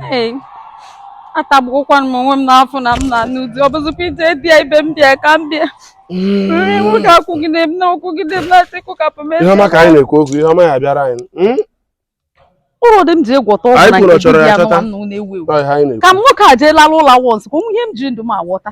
Hey, atagbuokwanụ m onwe m n'afọ na m na n'ụdị ọ bụzikwa ije bịa ibe m bịa ka m bịa nri m ga-akụgide m na-akụgide m na-asị kụkapụ m ihe ọma ka anyị na-ekwu okwu ihe ọma ya bịara anyị hmm? ụlọ dị m ji egwọta ọgwụ Anyị na kwuru nke chọrọ ya dibịa chọta. nọ m na-ewu ewu Ọ ihe anyị na-ekwu. ka m nwoke a jee lara ụlọ wọns ka o nwe ihe m ji ndụ m agwọta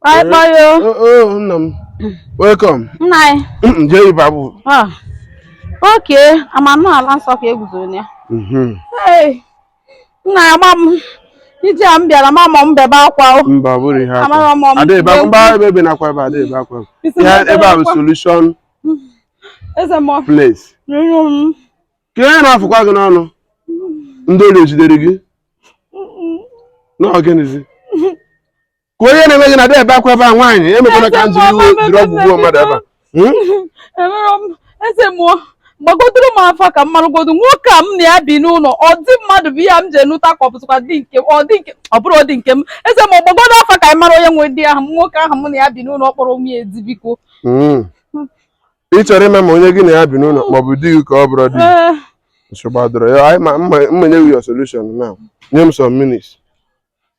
Kpọị kpọị o. Oh, oh, nna m. Welcome. Nna anyị. Mm, Jee ebe ahụ. Ah. Oke, ị ma na ala nsọ ka i guzoro na ya. Mhm. Hey, nna ya ma m ije a m bịara ma mọ m bebe akwa o. Mba, ọ bụrụ ihe Amara akwa. m ọmụmụ A da ebe akwa. Mba, ebe ebe na-akwa ebe a da ebe akwa. Isi Ihe na-ebe ebe a bụ akwa. solution Eze m place. rụrụ m. Ka ihe na-afụkwa gị n'ọnụ. Ndị ori ejidere gị. Na ọ gịnịzi. ka onye na-eme gị na a da ebe akwa ebe a nwaanyị emekwala ka m jiri iwe jiri ọgwụ gbuo mmadụ ebe a Hmm? Emerọ m eze mmụọ gbagodoro m afa ka m marụgodo nwoke a m na ya bi n'ụlọ ọ di mmadụ bụ ihe a m ji enụta ka ọ bụzikwa di nke ọ di nke ọ bụrọ di nke m eze mmụọ gbagodo afa ka anyị mara onye nwe di ahụ m nwoke ahụ m na ya bi n'ụlọ ọ kpọrọ onwe ya ezi biko Hmm. ị chọrọ ịma ma onye gị na ya bi n'ụlọ ma ọ bụ di gị ka ọ bụrọ di gị Ee, nsogbu adịrọ ya m ma enye gị your solution now nye m some minutes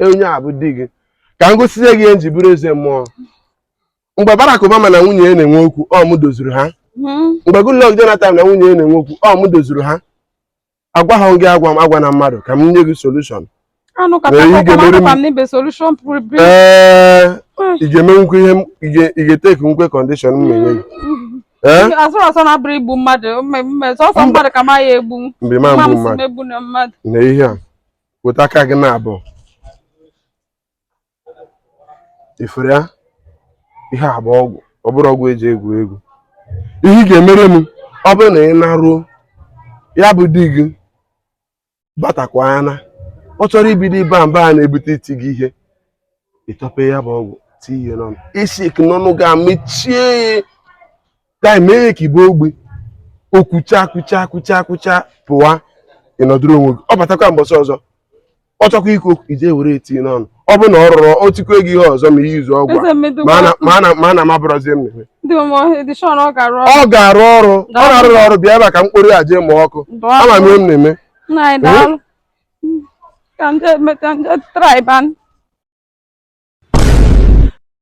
e, onye a bụ di gị ka m gosizie gị ihe m ji bụrụ eze mmụọ mgbe Barack Obama na nwunye ya na-enwe okwu ọ m dozuru ha hmm. mgbe Goodluck Jonathan na nwunye ya na-enwe okwu ọ m dozuru ha agwa ha gị agwa m agwa na mmadụ ka m nye gị solushọn ee ị ga-emenwukwu ihe ị ga-etekinwu kọndishọn m na-enye gị asụrụ asọ na ọ bụrọ igbu mmadụ sọsọ mmadụ ka ma ya egbu mgbe ma mmadụ na ihe a weta aka gị na abụọ ifere ya ihe a bụ ọgwụ ọ bụrọ ọgwụ e ji egwu egwu ihe ị ga-emere m ọ bụrụ na ị naruo ya bụ di gị batakwa ya na ọ chọrọ ibido iba mba a na-ebute iti gị ihe ị tọpee ya bụ ọgwụ tinye n'ọnụ isi n'ọnụ gị mechie ya gaa mee ya ka ị bụ ogbi o kwucha kwucha kwucha kwucha pụwa ị nọdụrụ onwe gị ọ batakwa mbọsị ọzọ ọ chọkwa ikwu okwu ị jee were tinye n'ọnụ ọ bụrụ na ọ rụrọ o tikwa gị ihe ọzọ ma i jizi ọgwụ a, ma a na- ma a na- ma a na m abụrọzi ihe m na-eme. ọ ga-arụ ọrụ ọ na-arụrọ ọrụ bịa ebe a ka m kporo ya jee mụọ ọkụ ama m ihe m na-eme Ka ndị emeta ndị traiban